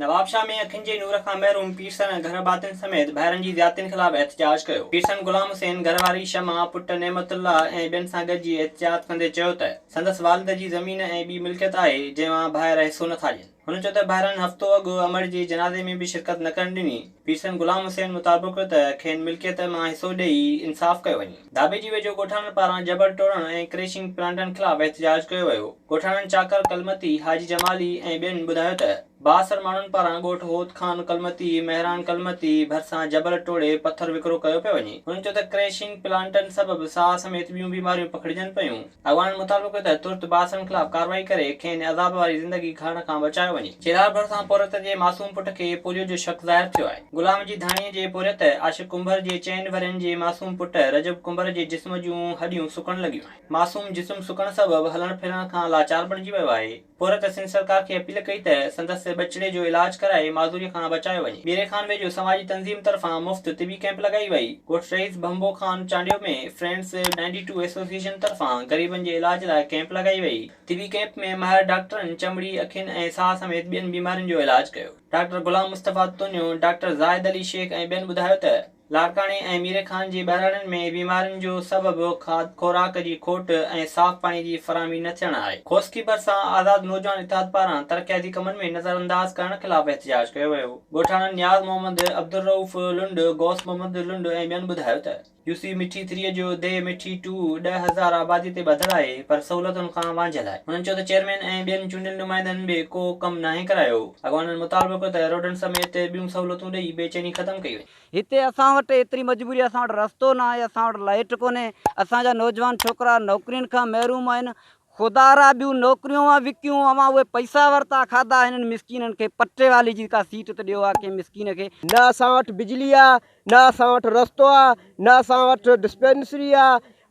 نوابشاهه ۾ اکين جي نور کان محروم پيرسن ۽ گهر ڀاتين سميت ڀائرن جي زيادتين خلاف احتجاج ڪيو. پيرسن غلام حسين، گهر واري شمع، پٽ نعمت الله ۽ ٻين سان گڏجي احتجاج ڪندي چيو ته سندس والد جي زمين ۽ ٻي ملڪيت آهي جنهن مان ڀائر حصو نٿا ڏين. هن چيو ته ڀائرن هفتو اڳ امڙ جي جنازي ۾ به شرڪت نه ڪرڻ ڏني، پيرسن غلام حسين مطابق ته کين ملڪيت مان حصو ڏئي انصاف ڪيو وڃي. ڌاٻيجي ويجهو ڳوٺاڻن پاران جبل ٽوڙڻ ۽ ڪريشنگ پلانٽن خلاف احتجاج ڪيو ويو، ڳوٺاڻن چاڪر ڪلمتي، حاجي جمالي ۽ ٻين ٻڌايو ته بااثر ماڻهن پاران ڳوٺ هوت خان ڪلمتي، مهراڻ ڪلمتي ڀرسان جبل ٽوڙي پٿر وڪرو ڪيو پيو وڃي، هن چيو ته ڪريشنگ پلانٽن سبب ساهه سميت ٻيون بيماريون پکڙجن پيون. اڳواڻن مطالبو ڪيو ته ترت بااثرن خلاف ڪارروائي ڪري کين عذاب واري زندگي گهڙڻ کان بچايو وڃي. چيلار ڀرسان پورهيت جي معصوم پٽ کي پوليو جو شڪ ظاهر ٿيو آهي. غلام جي ڌاڻي جي پورهيت عاشق ڪنڀر جي چئن ورهين جي معصوم پٽ رجب ڪنڀر جي جسم جون هڏيون سڪڻ لڳيون آهن. معصوم جسم سڪڻ سبب هلڻ ڦرڻ کان لاچار بڻجي ويو آهي. عورت سنڌ سرڪار کي اپيل ڪئي ته سندس ٻچڙي جو علاج ڪرائي معذوريء کان بچايو وڃي. ميري خان ويجهو سماجي تنظيم طرفان مفت طبي ڪئمپ لڳائي وئي. ڳوٺ رئيس ڀنڀو Khan Chandio ۾ friends ninety two association طرفان غريبن جي علاج لاء ڪئمپ لڳائي وئي. طبي ڪئمپ ۾ ماهر ڊاڪٽرن چمڙي، اکين ۽ ساهه سميت ٻين بيمارين جو علاج ڪيو. ڊاڪٽر غلام مصطفيٰ تونيو، ڊاڪٽر زاهد علي شيخ ۽ ٻين ٻڌايو ته، لاڙڪاڻي ۽ ميري خان جي ٻهراڙين ۾ بيمارين جو سبب کاڌ خوراڪ جي کوٽ ۽ صاف پاڻي جي فراهمي نه ٿيڻ آهي. خوسڪي ڀرسان آزاد نوجوان اتحاد پاران ترقياتي ڪمن ۾ نظرانداز ڪرڻ خلاف احتجاج ڪيو ويو. ڳوٺاڻن نياز محمد، عبدالرئوف لنڊ، غوث محمد لنڊ ۽ ٻين ٻڌايو ته يوسي مٺي ٿري جو ديهه مٺي ٽو ڏهه هزار آبادي تي ٻڌل آهي پر سهولتن کان وانجهيل آهي. هنن چيو ته چيئرمين ۽ ٻين چونڊيل نمائندن به ڪو ڪم ناهي ڪرايو. اڳواڻن مطالبو ڪيو ته روڊن سميت ٻيون سهولتون ڏئي بي چيني ختم ڪئي وڃي. هتي اسان وٽ ايتري مجبوري اسان وٽ رستو نه آهي اسان وٽ لائيٽ ڪونهي اسان جا نوجوان ڇوڪرا نوڪرين کان محروم آهن خدارا ٻيون نوڪريون اوهان وڪيون اوهان اهي پئسا ورتا کاڌا هنن مسڪينن کي پٽي والي جي ڪا سيٽ ته ڏيو ها ڪنهن مسڪين کي. نه اسان وٽ بجلي آ نه اسان وٽ رستو آ نه اسان وٽ ڊسپينسري آ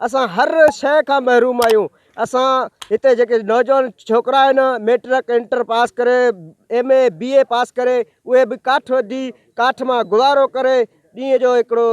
اسان هر شئي کان محروم آهيون اسان هتي جيڪي نوجوان ڇوڪرا آهن ميٽرڪ انٽر پاس ڪري ايم اي بي اي پاس ڪري اهي به ڪاٺ وڍي ڪاٺ مان گذارو ڪري ڏينهن جو هڪڙو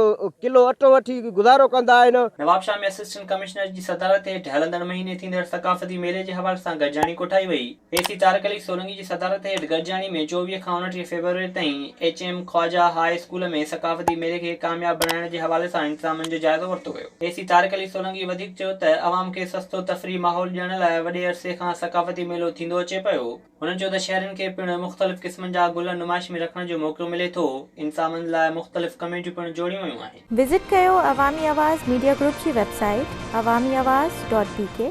ڪلو اٽو وٺي گذارو ڪندا آهن. نوابشاهه ۾ اسسٽنٽ ڪمشنر جي صدارت هيٺ هلندڙ مهيني ٿيندڙ ثقافتي ميلي جي حوالي سان گڏجاڻي ڪوٺائي وئي. اي سي طارق علي سولنگي جي صدارت هيٺ گڏجاڻي ۾ چوويهه کان اڻٽيهه فيبروري تائين H M Khawaja high school ۾ ثقافتي ميلي کي ڪامياب بڻائڻ جي حوالي سان انتظامن جو جائزو ورتو ويو. اي سي طارق علي سولنگي وڌيڪ چيو ته عوام کي سستو تفريحي ماحول ڏيڻ لاء وڏي عرصي کان ثقافتي ميلو ٿيندو اچي پيو. هن چيو ته شهرين کي پڻ مختلف قسمن جا گل نمائش ۾ رکڻ جو موقعو ملي ٿو، انتظامن لاء مختلف ڪميٽيون پڻ جوڙيون ويون آهن. وزٽ ڪيو عوامي آواز ميڊيا گروپ جي website Awami Awaz dot بي ڪي.